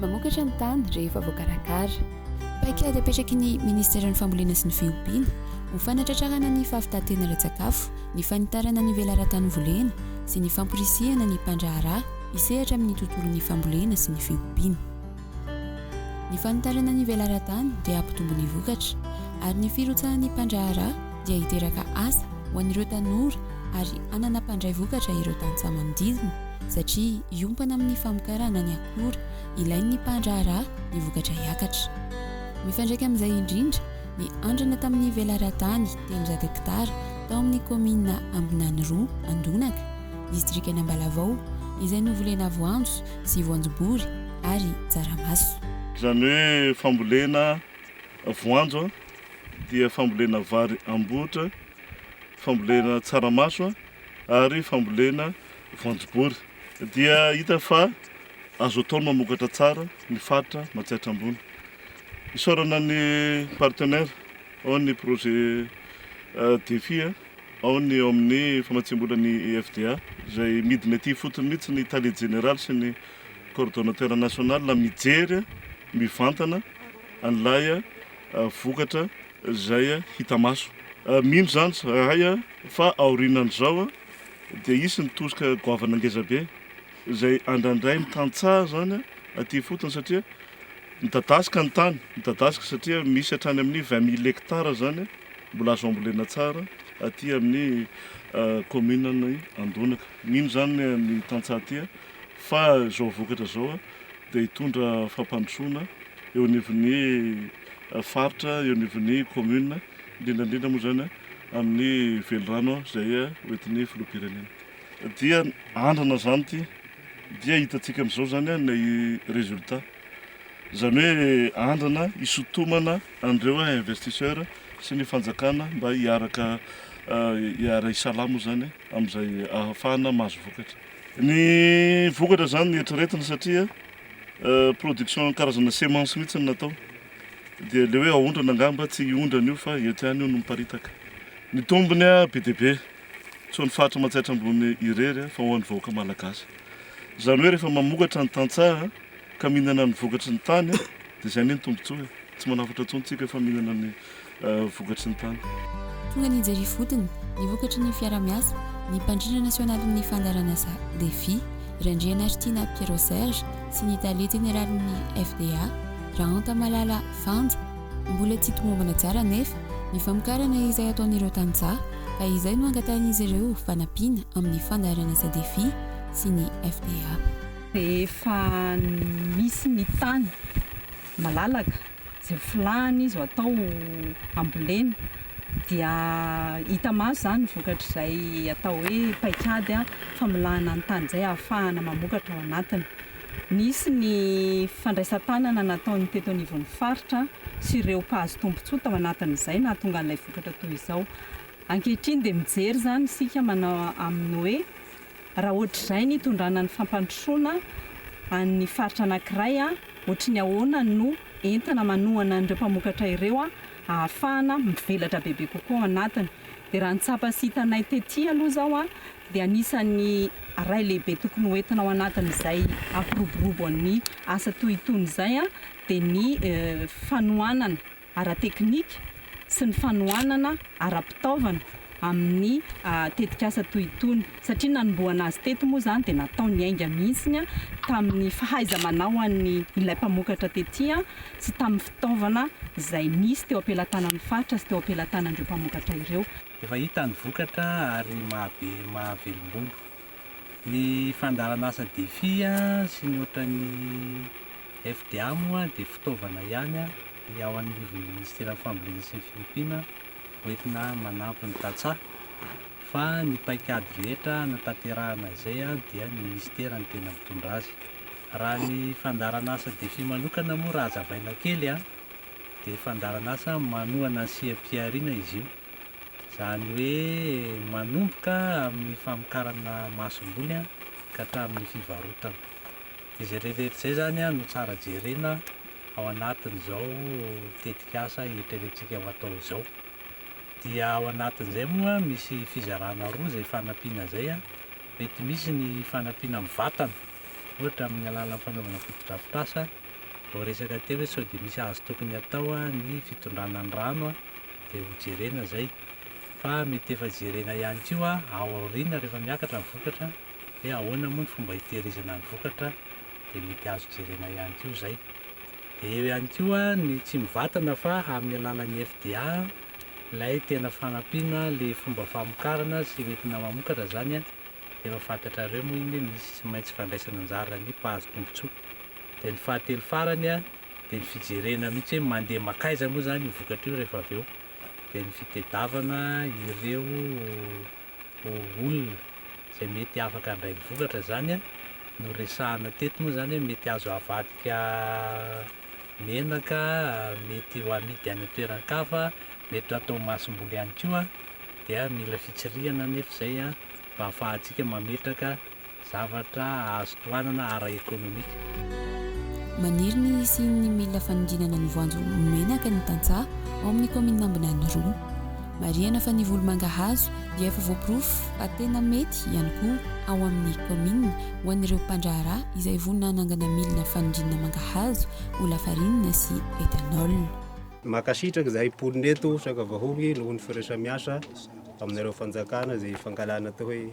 Mamokatra ny tany rehefa voakarakara. Paikady apetraky ny Ministeran'ny Fambolena sy ny Fiompiana ho fanatratrarana ny fahavitan-tena ara-tsakafo, ny fanitarana ny velaran-tany volena sy ny famporisihana ny mpandraharaha hisehatra amin'ny tontolon'ny fambolena sy ny fiompiana. Ny fanitarana ny velaran-tany dia hampitombo ny vokatra, ary ny firotsahan'ny mpandraharaha dia hiteraka asa ho an'ireo tanora ary hanana mpandray vokatra ireo tantsaha manodidina, satria hiompana amin'ny famokarana ny akora ilain'ny mpandraharaha ny vokatra hiakatra. Mifandraika amin'izay indrindra ny andrana tamin'ny velaran-tany telonjato hektara tao amin'ny kaominina Ambinanirò Andonaka, distrikan'Ambalavao, izay novolena voanjo sy voanjobory ary tsaramaso. Izany hoe fambolena voanjo dia fambolena vary ambotra, fambolena tsaramaso ary fambolena voanjobory dia hita fa azo atao ny mamokatra tsara ny faritra Matsiatra Ambony. Isaorana ny partenaire ao ny projet Defi a. Ao ny eo amin'ny famatsiam-bola ny IFDA izay midina ety ifotony mihitsy ny Tale Jeneraly sy ny Coordonnateur National mijery mivantana an'ilay vokatra izay hita maso. Mino izany izahay fa aorianan'izao dia hisy ny tosika goavana ngezabe. izay andrandrain'ny tantsaha izany aty ifotony satria midadasika ny tany, midadasika satria misy hatrany amin'ny vingt mille hectares izany mbola azo ambolena tsara aty amin'ny kaominin'i Andonaka. Mino izany ny tantsaha aty fa izao vokatra izao dia hitondra fampandrosoana eo anivon'ny faritra, eo anivon'ny kaomina, indrindra indrindra moa izany amin'ny velirano izay hoentin'ny filoham-pirenena. Dia andrana izany ity, dia hitantsika amin'izao izany ilay résultat. Izany hoe andrana hisotomana an'ireo investisseurs sy ny fanjakana mba hiaraka hiara-hisalahy moa izany amin'izay ahafahana mahazo vokatra. Ny vokatra izany no eritreretina satria production karazana semence mihitsy no natao. Dia ilay hoe aondrana angamba tsy hiondrana io fa eto ihany io no miparitaka. Ny tombony be dia be. tsy ho an'ny faritra Manjaitra Ambony irery fa ho an'ny vahoaka Malagasy. Izany hoe rehefa mamokatra ny tantsaha ka mihinana ny vokatry ny tany dia izay anie ny tombontsoa e! Tsy manafatra intsony tsika fa mihinana ny vokatry ny tany. Tonga ny jery ifotony, ny vokatry ny fiarahamiasa, ny mpandrindra nasionalin'ny fandaharan'asa Defi, Randrianaritiana Pierrot Serge sy ny tale jeneralin'ny FDA, Raanta Malala Fanja, Mbola tsy tomombana tsara anefa ny famokarana izay ataon'ireo tantsaha ka izay no angatahin'izy ireo fanampiana amin'ny fandaharana Sadefi sy ny FDA. Efa misy ny tany malalaka izay ho filahana izy ho atao ambolena dia hita maso izany ny vokatr'izay atao hoe paikady famolahana ny tany izay ahafahana mamokatra ao anatiny. Nisy ny fandraisan-tanana nataon'ny teto anivon'ny faritra sy ireo mpahazo tombontsoa tao anatin'izay nahatonga an'ilay vokatra toy izao. Ankehitriny dia mijery izany isika manao amin'ny hoe raha ohatr'izay ny itondrana ny fampandrosoana an'ny faritra anankiray ohatry ny ahoana no entina manohana an'ireo mpamokatra ireo ahafahana mivelatra bebe kokoa ao anatiny. Dia raha ny tsapa sy hitanay tety aloha izao dia anisan'ny ray lehibe tokony ho entina ao anatin'izay hampiroborobo an'ny asa toy itony izay dia ny fanohanana ara-teknika sy ny fanohanana ara-pitaovana amin'ny tetikasa toy itony satria nanombohana azy teto moa izany dia natao ny ainga mihitsy tamin'ny fahaiza-manaoan'ny ilay mpamokatra tety sy tamin'ny fitaovana izay nisy teo am-pelatanan'ny faritra sy teo am-pelatanan'ireo mpamokatra ireo. Efa hita ny vokatra ary mahabe mahavelombolo. Ny fandaharan'asa Defi sy ny ohatran'ny FDA moa dia fitaovana ihany ny ao anivon'ny Ministeran'ny Fambolena sy ny Fiompiana hoentina manampy ny tantsaha fa ny paikady rehetra hanatanterahana izay dia ny Ministera no tena mitondra azy. Raha ny fandaharan'asa Defi manokana moa raha hazavaina kely a! dia fandaharan'asa manohana ny seha-pihariana izy io, izany hoe manomboka amin'ny famokarana masomboly ka hatramin'ny fivarotana. Dia izay rehetrarehetra izay izany no tsara jerena ao anatin'izao tetikasa eritreretintsika ho atao izao. Dia ao anatin'izay moa misy fizarana roa izay fanampiana izay, mety misy ny fanampiana amin'ny vatana, ohatra amin'ny alalan'ny fanaovana fotodrafitrasa, Vao resaka teo hoe sao dia misy azo tokony atao ny fitondrana ny rano dia ho jerena izay. Fa mety efa jerena ihany koa ao aoriana rehefa miakatra ny vokatra hoe ahoana moa ny fomba hitehirizana ny vokatra dia mety azo jerena ihany koa izay. Dia eo ihany koa ny tsy mivatana fa amin'ny alalan'ny FDA ilay tena fanampiana ilay fomba famokarana sy hoentina mamokatra izany dia efa fantatrareo moa iny hoe misy tsy maintsy fandraisana anjara ny mpahazo tombotsoa. dia ny fahatelo farany a dia ny fijerena mihitsy hoe mandeha makaiza moa zany io vokatra io rehefa avy eo dia ny fitedavana ireo olona izay mety afaka handray ny vokatra zany a no resahana teto moa zany hoe mety azo avadika menaka mety ho amidy any an-toeran-kafa mety atao masomboly ihany koa dia mila fitsirihana anefa izay a mba hahafahantsika mametraka Zavatra azo tohanana ara-ekonomika. Maniry ny hisian'ny milina fanodinana ny voanjo menaka ny tantsaha ao amin'ny kaominina Ambinany roa. Marihana fa ny volo mangahazo dia efa voaporofo fa tena mety ihany koa ao amin'ny kaominina ho an'ireo mpandraharaha izay vonona hanangana milina fanodinana mangahazo ho lafarinina sy ethanol. Mankasitraka izahay mponina eto Sangavahogy noho ny firesaha-miasa aminareo fanjakana izay ifankahalana atao hoe.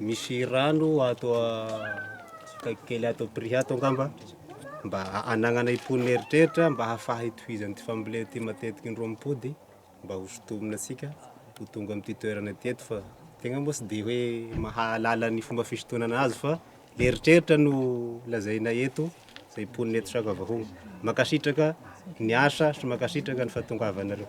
Misy rano ato akaiky kely ato Ampirihy ato angamba mba hananana impon'ny eritreritra mba hahafaha hitohizana ity fambolena ity matetika indroa am-pody mba ho sintomina antsika ho tonga amin'ity toerana ity eto fa tegna moa tsy dia hoe mahalala ny fomba fisintonana azy fa le eritreritra no lazaina eto. izay mponina eto Sakabahoho. Mankasitraka ny asa sy mankasitraka ny fahatongavanareo.